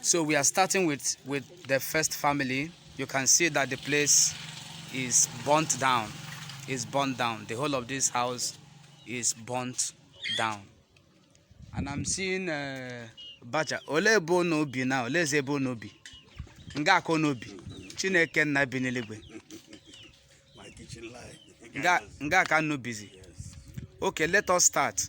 So we are starting with, with the first family. You can see that the place is burnt down. Is burnt down. The whole of this house is burnt down. And I'm seeing uh, Baja. Ole ebe no bi na ole eze ebe no bi. Nga akọ no bi. Chineke nna bi n'eluigwe. Nga nga ka no busy. Okay, let us start.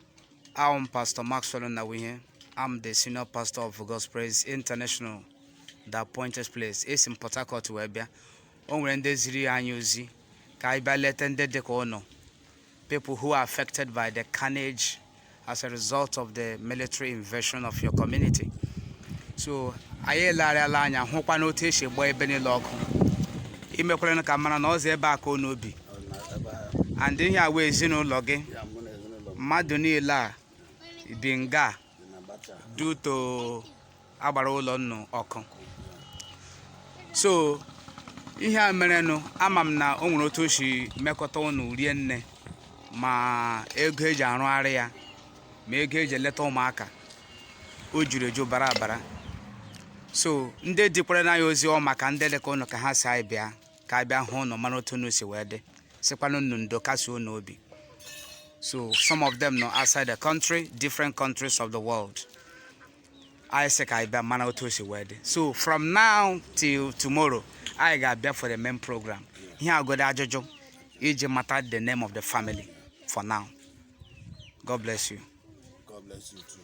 I'm Pastor Maxwell Nnawuihe. I'm the senior pastor of God's Praise International, the appointed place. Esi m Port Harcourt wee bịa. O nwere ndị ziri anyị ozi ka anyị bịa leta ndị dị ka ụnụ. People who are affected by the carnage as a result of the military invasion of your community. So anyị elegharịala anya hụkwanụ otu e si gbaa ebe niile ọkụ. E mekwara ka m mara na ọ sọ ebe a ka unu bi. and ihe a wụ ezinụlọ gị mmadụ niile a bi nga due to a gbara ụlọ ụnụ ọkụ so ihe a merenụ ama m na o nwere otu o si mekọta ụnụ rienne ma ego eji arụgharị ya ma ego eji eleta ụmụaka o juru eju bara abara so ndị dikwaranụ anyị ozi ọ maka ndị dị ka ụnụ ka ha sị anyị bịa ka anyị bịa hụ unu mara otu unu si wee dị sịkwanụ unu ndo kasie unu obi so some of them nọ outside the country different countries of the world anyị sị ka anyị bịa mara otu o si wee dị so from now till tomorrow anyị ga-abịa for the main program ihe a godi ajụjụ iji mata the name of the family for now god bless you God bless you too.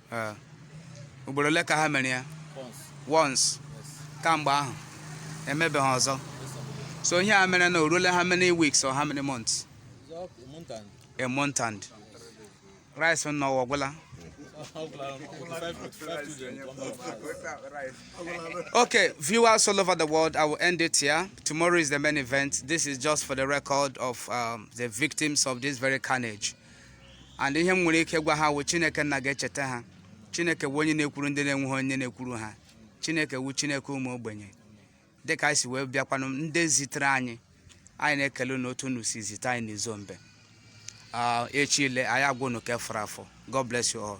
Eh, ugboro ole ka ha mere ya once kamgbe ahụ emebeghị ọzọ so ihe a merenụ o ruola how many weeks or how many months a month and rice unu agwụla Okay, viewers all over the world, I will end it here. Tomorrow is the main event. This is just for the record of um, the victims of this very carnage. and ihe m nwere ike gwa ha wụ chineke nna ga-echeta ha chineke wụ onye na-ekwuru ndị na-enweghị onye na-ekwuru ha chineke wụ chineke ụmụ ogbenye dịka anyị si wee bịakwanụ ndị zitere anyị anyị na-ekele unu otu unu si zite anyị n'Izombe Ah, echi ile anyị agwa unu ke fọrọ afọ god bless you all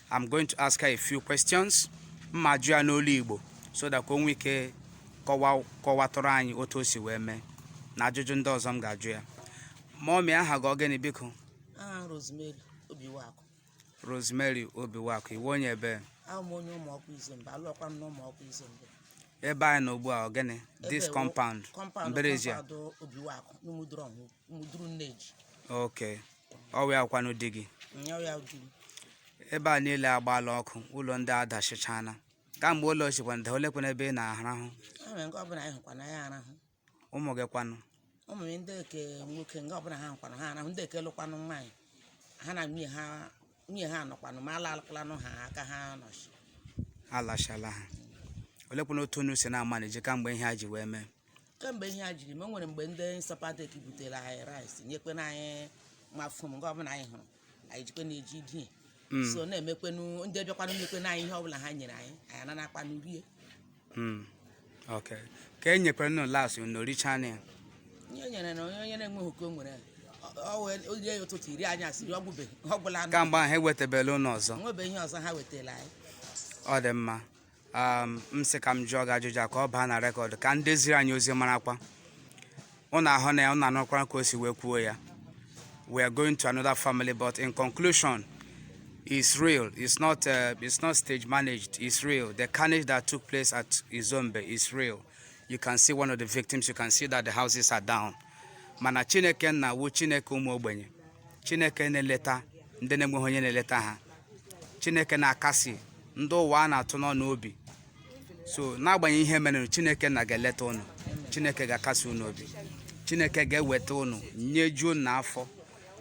I'm going to ask her a few questions m ma-ajụ ya n'olu Igbo so that ka o nwee ike kọwatụrụ anyị otu o si wee mee na ajụjụ ndị ọzọ m ga-ajụ ya mọmi aha gị ọ gịnị biko Rosemary Obiwakụ Rosemary Obiwakụ ị wụ onye ebe onye Umuokwu Izombe alụọkwa m n'Umuokwu Izombe ebe anyị nọ ugbu a ọ gịnị this compound mbara ezi a Obiwakụ n'Umudurọnwugwu muduru Nneji okay ọ wụ ya kwanụ di gị nya ya di m ebe a niile agbaala ọkụ ụlọ ndị a adashịchana kamgbe ụlọ shikwanụ daa olekwana ebe ị na-arahụ a mere nke ọbụla anyị hụkwanụ anyị arahụ ụmụ gị kwanụ ụmụ m ndị ke nwoke nke ọbụla ha hụkwanụ ha arahụ ndị ke lụkwanụ nwaanyị ha na nwunye ha nwunye ha nọkwanụ ma alalakwalanụ ha aka ha nọchi alachala ha olekwana otu unu si na-amanage kamgbe ihe a ji wee mee kemgbe ihe a jiri mee o nwere mgbe ndị ISOPADEC butere anyị rice nyekwena anyị ma foam nke ọbụla anyị hụrụ anyị jikwe na-eji die so na-emekwenu ndị bịakwanụ nyekwena anyị ihe ọbụla ha nyere anyị anyị ananakwanụ rie Hmm. Okay. ka e nyekwara unu last unu richaana ya ihe nyere na onye onye na-enweghị oke o nwere ọ wee oge ya ụtụtụ iri anyị asịrị ọ gwụbe ọ gwụlanụ kamgbe ahụ ewetabela unu ọzọ o nwebe ihe ọzọ ha wetara anyị ọ dị mma um, m sị ka m jụọ gị ajụjụ a ka ọ baa na record ka ndị ziri anyị ozi marakwa ụnụ ahụna ya ụnụ anụkwara ka o si wee kwuo ya we are going to another family but in conclusion it's real it's not uh, it's not stage managed it's real the carnage that took place at Izombe is real you can see one of the victims you can see that the houses are down mana chineke nna wu chineke ụmụ ogbenye chineke na-eleta ndị na-enweghị onye na-eleta ha chineke na-akasi ndị ụwa a na-atụ n'ọnụ obi so n'agbanyeghị ihe mere chineke nna ga-eleta ụnụ chineke ga-akasi ụnụ obi chineke ga-eweta ụnụ nyejuo ụnụ afọ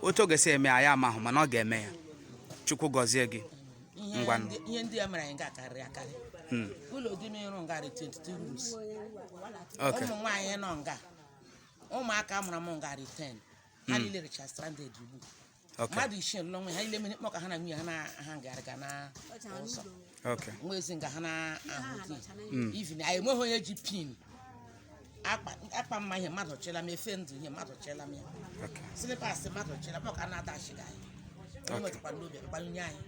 otu ọ ga-esi eme anyị amahụ mana ọ ga-eme ya chukwu gọzie gị ngwanụ ihe ndị a mere anyị nga karịrị akarị hmm. ụlọ di m rụrụ nga dị 22 rooms ụmụ nwaanyị nọ nga ụmụaka mụrụ m nga dị 10 ha hmm. niile rịcha stranded ugbu Okay. mmadụ isii lụrụ nwa ha ile mere mkpọ ka ha na nwunye ha na-agagharịga n'ụzọ Okay. nwa ezi nga ha na-ahụ di even anyị enweghị onye ji pin akpa akwa m ma ihe mmadụ chela m efe ndụ ihe mmadụ chela m ya Okay. slippers mmadụ chela m ọ ka na-adachiga anyị o metakwara n'obi akpanye anyị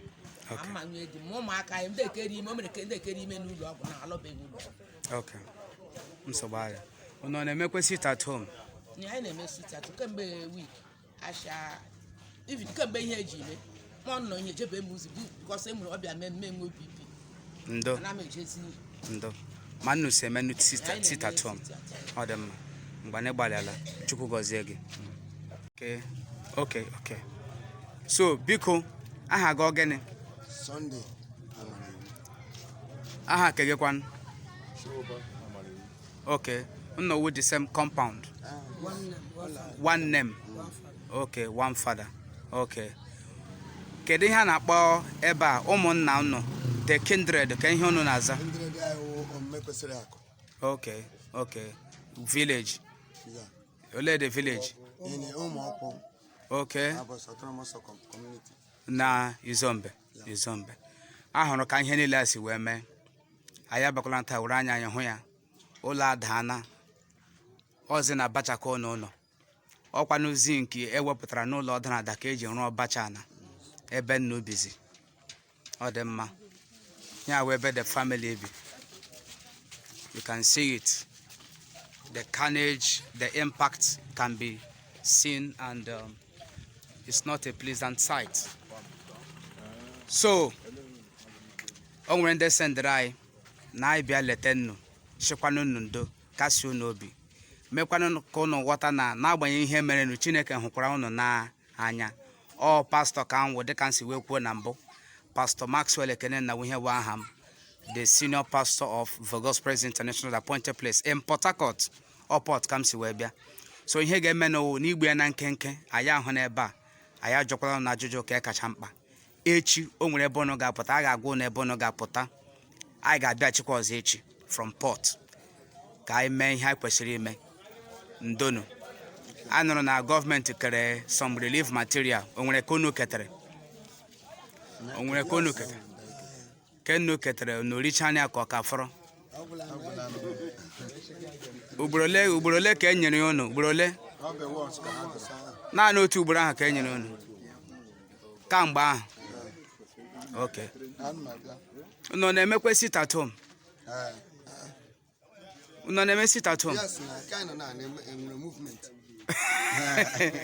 Okay. ama nwunye di m ụmụaka anyị ndị ekeri ime o mere ka ndị ekeri ime n'ụlọ ọgwụ na alọbeghị ụlọ ọgwụ. Okay. Nsogbu adị. Unu ọ na-emekwe sit at home? Ee anyị na-eme sit at home kemgbe week asha even kemgbe ihe a ji eme ma ọ nọ ihe jebe m ozi bụ because e mere ọ bịa mee m enwee BP ndo ana m ejezi ihe ndo ma unu so emenụ Anyị so na-eme sit at home sit at home. ọ dị mma ngwanụ ị gbalịala chukwu gọzie gị Okay, okay, okay. so biko aha gị ọ gịnị Sunday Amaraiwu aha ke gị kwanụ Shoba Okay. Unu wu the same compound. Uh, one name. One, one name. One father. Okay, one father. Okay. Kedu ihe a na-akpọ ebe a ụmụnna unu the kindred kee ihe unu na-aza? Kindred anyị Ụmụekwesịrịakụ. Okay, okay. Village. Yeah. Ole the village? In Ụmụọkpụ. Okay. Aborshi autonomous community. Na Izombe. Yeah. Izombe. A hụrụ ka ihe niile a si wee mee. anyị abịakwala taa were anya anyị hụ ya ụlọ adaana ọzi na bacha ka unu nọ ọkwanụ zinc ewepụtara n'ụlọ ọ dara ada ka eji rụọ bacha na ebe nnu bizi ọ dị mma ya wụ ebe the family bi you can see it the carnage the impact can be seen and um, it's not a pleasant sight so o nwere ndị sendịrị anyị na anyị bịa leta nnu sịkwanụ nnu ndo kasie unu obi mekwanụ ka ụnụ ghọta na n'agbanyeghị ihe merenụ chineke hụkwara ụnụ n'anya ọ pastọ ka m wụ dịka m si wee kwuo na mbụ pastọ maxwell nnawuihe bụ aha m the senior pastor of the Gospels International appointed place in Port Harcourt ọ port ka m si wee bịa so ihe ga-eme now n'igbu ya na nkenke anyị ahụna ebe a anyị ajụkwala nnu ajụjụ ka kacha mkpa echi o nwere ebe ụnụ ga-apụta a ga-agwa ụnụ ebe ụnụ ga-apụta anyị ga-abịachikwa ọzọ echi from port ka anyị mee ihe anyị kwesịrị ime ndonu a nụrụ na gọọmenti kere some relief material o nwere ka unu ketere o nwere ka unu ketere ke nnu ketere nnu erichaana ya ka ọ ka fọrọ ugboro ole ka e nyere unu ugboro ole naanị otu ugboro ahụ ka e nyere unu kamgbe ahụ ok unu ọ na-emekwa sit at home unu ọ na-eme sit at home Yes, na nke anyị nọ na na-eme enwere movement.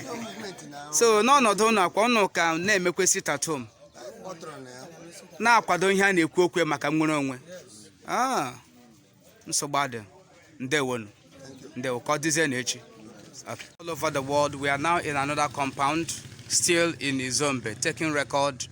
No movement na ahụ. so n'ọnọdụ ụnụ a kwa ụnụ ka na-emekwa sit at home Anyị kpọtụrụ na ya. na-akwado ihe a na-ekwu okwu maka nnwere onwe Ah, nsogbu adị ndewonu ndewo ka ọ dịzie na echi Okay. all over the world we are now in another compound still in izombe taking record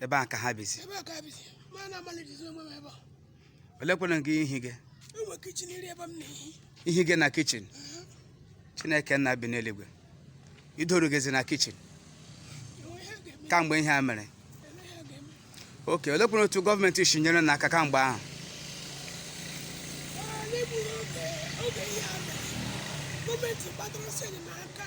ebe a ka ha bizi ebe a ka ha bizi m na-amanejizi onwe m ebe a olekwanụ nke ihi gị enwe kichin iri ebe m na-ehi ihiga na kichin chineke nna bi n'eluigwe idorugazi na kichin kamgbe ihe a mere ok olekwanụ otu gọọmenti si nyere nnu aka kamgbe ahụ gọọmenti gbadoro sị enyemaka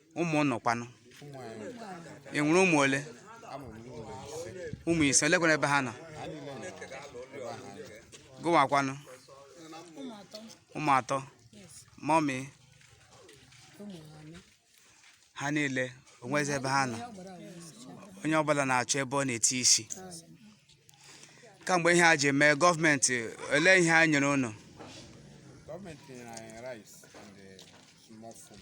ụmụ ụnụ kwanụ ụmụ anyị ị nwere ụmụ ole amụrụ m ụmụ ise ụmụ ise olekwa ebe ha nọ ha niile nọ ebe ha nọ gịwa kwanụ ụmụ atọ ụmụ atọ yes mọmị ụmụ anọ ha niile o nwezi ebe ha nọ ya gbara agwa isi onye ọbụla na-achọ ebe ọ na-eti isi kamgbe ihe a ji mee gọọmenti olee ihe a nyere ụnụ gọọmenti nyere anyị rice and eh, small food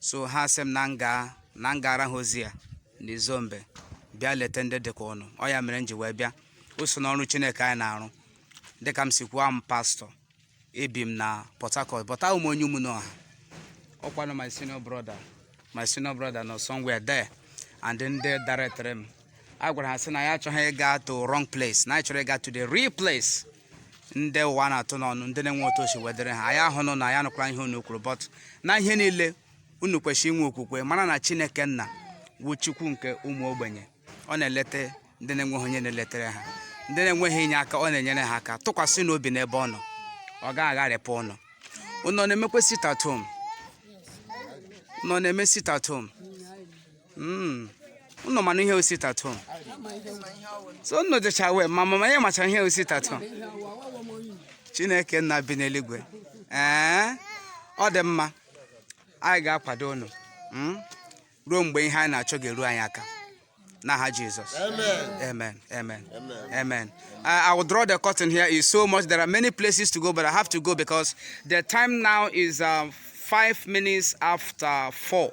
so ha sị m na m gara ha ozi ya n'izombe bịa leta ndị dịka ụnụ ọ ya mere m ji wee bịa o so n'ọrụ chineke anyị na-arụ dịka m si kwuo I'm pastor ebi m na port harcourt but a wụ m onye Ụmụnọha ọkwanụ my senior brother my senior brother nọ somewhere there and ndị directịrị m agwara ha sị na ya achọghị ịga to wrong place na anyị chọrọ ịga to the real place ndị ụwa na-atụ n'ọnụ ndị na-enwe otu o si wee dịrị ha anyị ahụ unu n'anya nụkwara ihe unu kwuru but na ihe niile unu kwesịrị inwe okwukwe mara na chineke nna wụ chukwu nke ụmụ ogbenye ọ na-eleta ndị na-enweghị onye na-eletere ha ndị na-enweghị inyeaka ọ na-enyere ha aka tụkwasịnụ obi n'ebe ọ nọ ọ gaghị agharịpụ ụnụ ụnụ na-emekwa sit at home ụnụ na-eme sit at home Mm. unu mana ihe wụ sit at home so unu dịcha aware ma mama ya macha ihe wụ sit at home chineke nna bi n'eluigwe ee ọ dị mma anyị ga-akwado unu mm, ruo mgbe ihe anyị na-achọ ga-eru anyị aka n'aha jizọs amen amen amen I, I will draw the curtain here is so much there are many places to go but i have to go because the time now is um, five minutes after four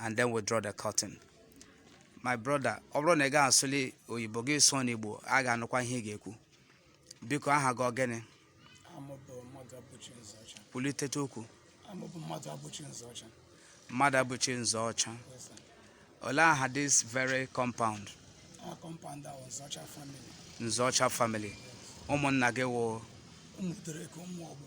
and then we draw the curtain my brother ọ bụrụ na ị gaghị asụli oyibo gị sụọ n'igbo a ga-anụkwa ihe ị ga-ekwu biko aha gị ọ gịnị aha m bụ Mmadụabụchi Nzeọcha kwulitete okwu aha m bụ Mmadụabụchi Nzeọcha Mmadụabụchi Nzeọcha Yes, sir. olee aha this very compound aha compound a wụ Nzeọcha family Nzeọcha family ụmụnna gị wụ ụmụ udereko Ụmụokwu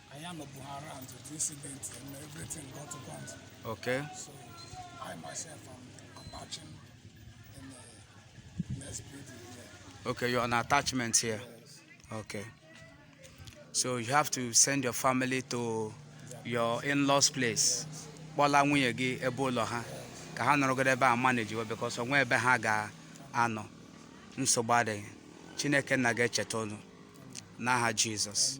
anyị anọbuha around the incident and everything got burnt Okay. so I myself am attaching in the next building here Okay, you're on attachment here. yes Okay. So you have to send your family to your in-laws place. Kpọla nwunye gị ebe ụlọ ha ka ha nọrọgodi ebe a managewe because o nwe ebe ha ga-anọ. Nsogbu adịghị. Chineke nna ga-echeta unu n'aha Jizọs.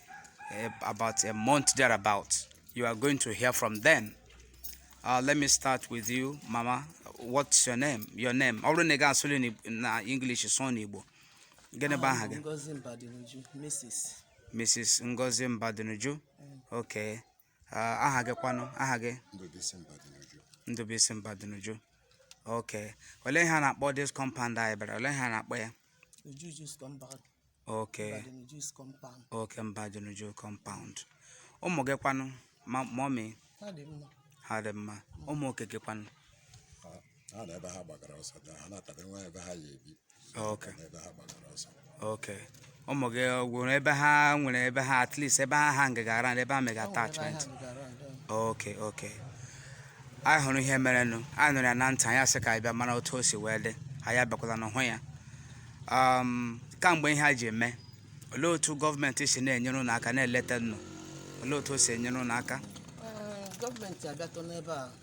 uh, about a month thereabout. You are going to hear from them. Uh, let me start with you, Mama. What's your name? Your name. Ọ bụrụ na ị gaghị asụli n'Ig- na English sụọ n'Igbo. Gịnị bụ aha gị? Ngozi Mbadinuju, Mrs. Mrs. Ngozi Mbadinuju. Okay. Ah, aha gị kwanụ aha gị Ndụbụisi Mbadinuju. ndụbụisi Mbadinuju ok olee ihe a na-akpọ this compound anyị bịara olee ihe a na-akpọ ya Mbadinuju's compound. ok Mbadinuju's compound. ok Mbadinuju compound ụmụ gị kwanụ ma- mummy Ha dị mma. ha dị mma ụmụ oke gị kwanụ ha na ebe ha gbagara ọsọ dị ha na-atabe nwa ebe ha ya ebi Okay. na ebe ha gbagara ọsọ okay ụmụ gị ọ gwụrụ ebe ha nwere ebe ha at least ebe ha hang around ebe ha mega attachment okay okay anyị hụrụ ihe merenụ anyị nụrụ ya na ntị anyị asị ka anyị bịa mara otu o si wee dị anyị abịakwalanụ hụ ya um, kamgbe ihe a ji eme olee otu gọọmenti si na-enyere ụnụ aka na-eleta ụnụ olee otu o si enyere ụnụ aka Ee, gọọmenti abịatụ n'ebe a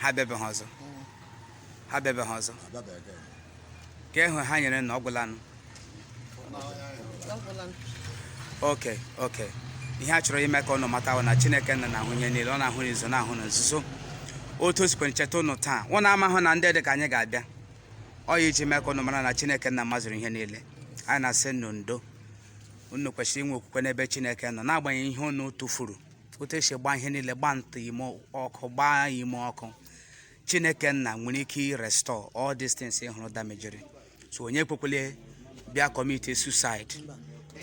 ha abịabeghị ọzọ ha abịabeghị ọzọ nke ahụ ha nyere na ọ gwụlanụ okay okay ihe a chọrọ ime ka ụnụ mata na chineke nna na-ahụ ihe niile ọ na-ahụ n'izo na-ahụ na nzuzo otu o sikwara cheta ụnụ taa ụnụ amahụ na ndị dị ka anyị ga-abịa ọ ya iji mee ka ụnụ mara na chineke nna mazụrụ ihe niile anyị na-asị unu ndo unu kwesịrị inwe okwukwe n'ebe chineke nọ n'agbanyeghị ihe unu tụfuru otu e si gba ihe niile gba nta ime ọkụ gbaa ime ọkụ chineke nna nwere ike irestore all these things ị hụrụ damejiri so onye ekwekwele bịa commit suicide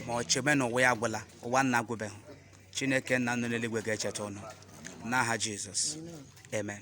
ma ọ chebe na ụwa ya agwụla ụwa ụnụ agwụbeghị chineke nna nọ n'eluigwe ga-echeta ụnụ n'aha jizọs amen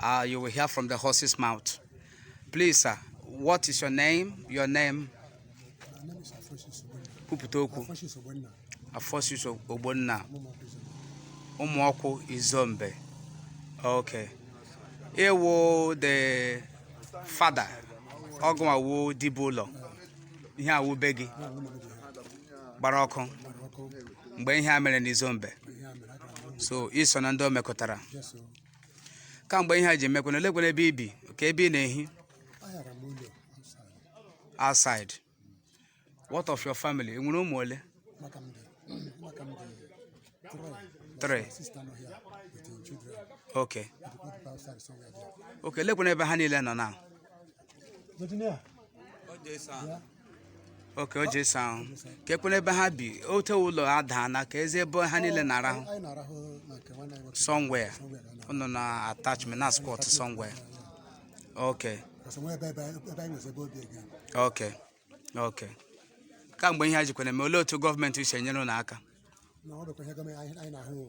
Uh, you will hear from the horse's mouth. Please, sir, what is your name? Your name? My name is Afoshius Ogbonna. Kwupụta okwu. Afoshius Ogbonna. Afoshius Ogbonna. Umuokwu Izombe. Okay. Ị wụ the father. Ọ gị wụ dibiụlọ. Ihe a wụ be gị gbara ọkụ. Mgbe ihe a mere n'Izombe. So, i so na ndị o mekụtara. kamgbe ihe a ji emekwana olekwana ebe i bi ka ebe ị na-ehi outside what of your family ị nwere ụmụ ole three okay okay lekwana ebe ha niile nọ na okay o ji sa ahụ ka ekwere ebe ha bi ote ụlọ ha daa na ka ezi ebe ha niile na-arahụ anyị na-arahụ na nke nwanne anyị nwoke somewhere ụnụ na attachment na squat somewhere okay kasị nwee ebe ebe ebe anyị nwezi ebe obi ege okay okay kamgbe ihe a jikwara mee olee otu gọọmenti si enyere ụnụ aka na ọ bụkwa ihe gọọmenti anyị anyị na-ahụ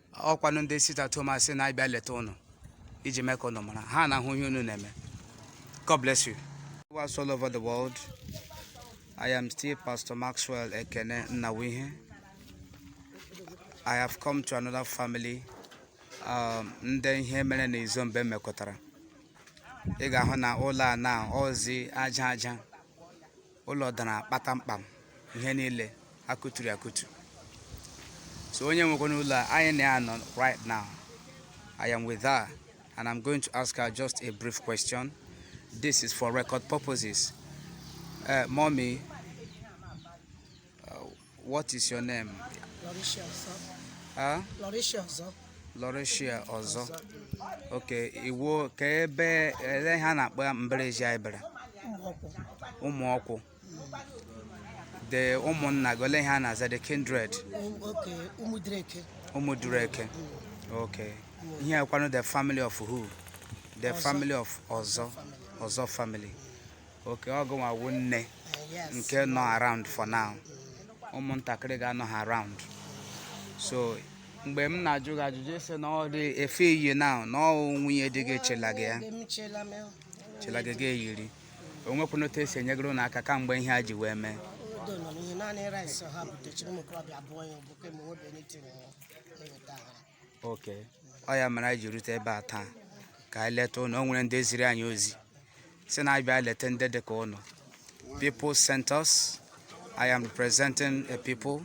ọ kwanụ ndị sit-at-homers na-abịa leta ụnụ iji mee ka ụnụ mara ha na-ahụ ihe unu na-eme God bless you viewers all over the world I am still Pastor Maxwell Ekene Nnawuihe I have come to another family um, ndị ihe mere na Izombe mekụtara ị ga-ahụ na ụlọ a na ozi aja aja ụlọ dara kpatamkpam ihe niile akụturu akụtu so onye nwekwanụ ụlọ a anyị na ya nọ right now I am with her and I'm going to ask her just a brief question this is for record purposes uh, mommy uh, What is your name? Lauricia Ozo. Huh? Lauricia Ozo. Lauricia Ozo. Okay, iwu ka ebe ele ihe a na-akpọ ya village anyị bịara Ụmụọkwụ. Ụmụọkwụ the ụmụnna gị ole ihe a na-aza the kindred Um, okay Ụmụdurueke. Ụmụdurueke okay ihe a kwanụ the family of who the family of Ozo Ozo family okay ọ gịnwa wu nne nke nọ around for now ụmụntakịrị gị anọha around so mgbe m na-ajụ gị ajụjụ ị sị na ọ dị efe i yi now na ọ nwunye di gị chela gị ya chela gị gị eyiri o nwekwanụ otu e si enyegoro ụnụ aka kamgbe ihe a ji wee mee okay ọ ya mere anyị ji rute ebe a taa ka anyị leta ụnụ o nwere ndị ziri anyị ozi sị na anyị bịa leta ndị dị ka ụnụ people sent us i am representing a people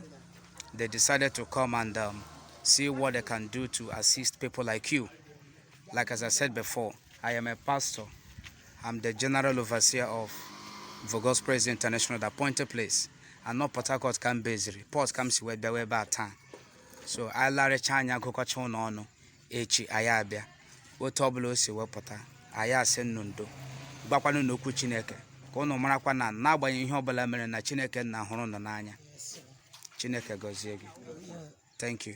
they decided to come and um, see what they can do to assist people like you like as i said before i am a pastor i'm the general overseer of Vogos Praise International, the appointed place. Ọ na Port Harcourt ka m beziri. Port ka m si wee bịawa ebe a taa. so anyị lerucha anya gụkọcha ụnụ ọnụ echi anyị abịa otu ọbụla o si wee pụta anyị asị ụnụ ndo gwakwanụ ụnụ okwu chineke ka ụnụ marakwa na n'agbanyeghị ihe ọbụla mere na chineke nna hụrụ ụnụ n'anya chineke gọzie gị thank you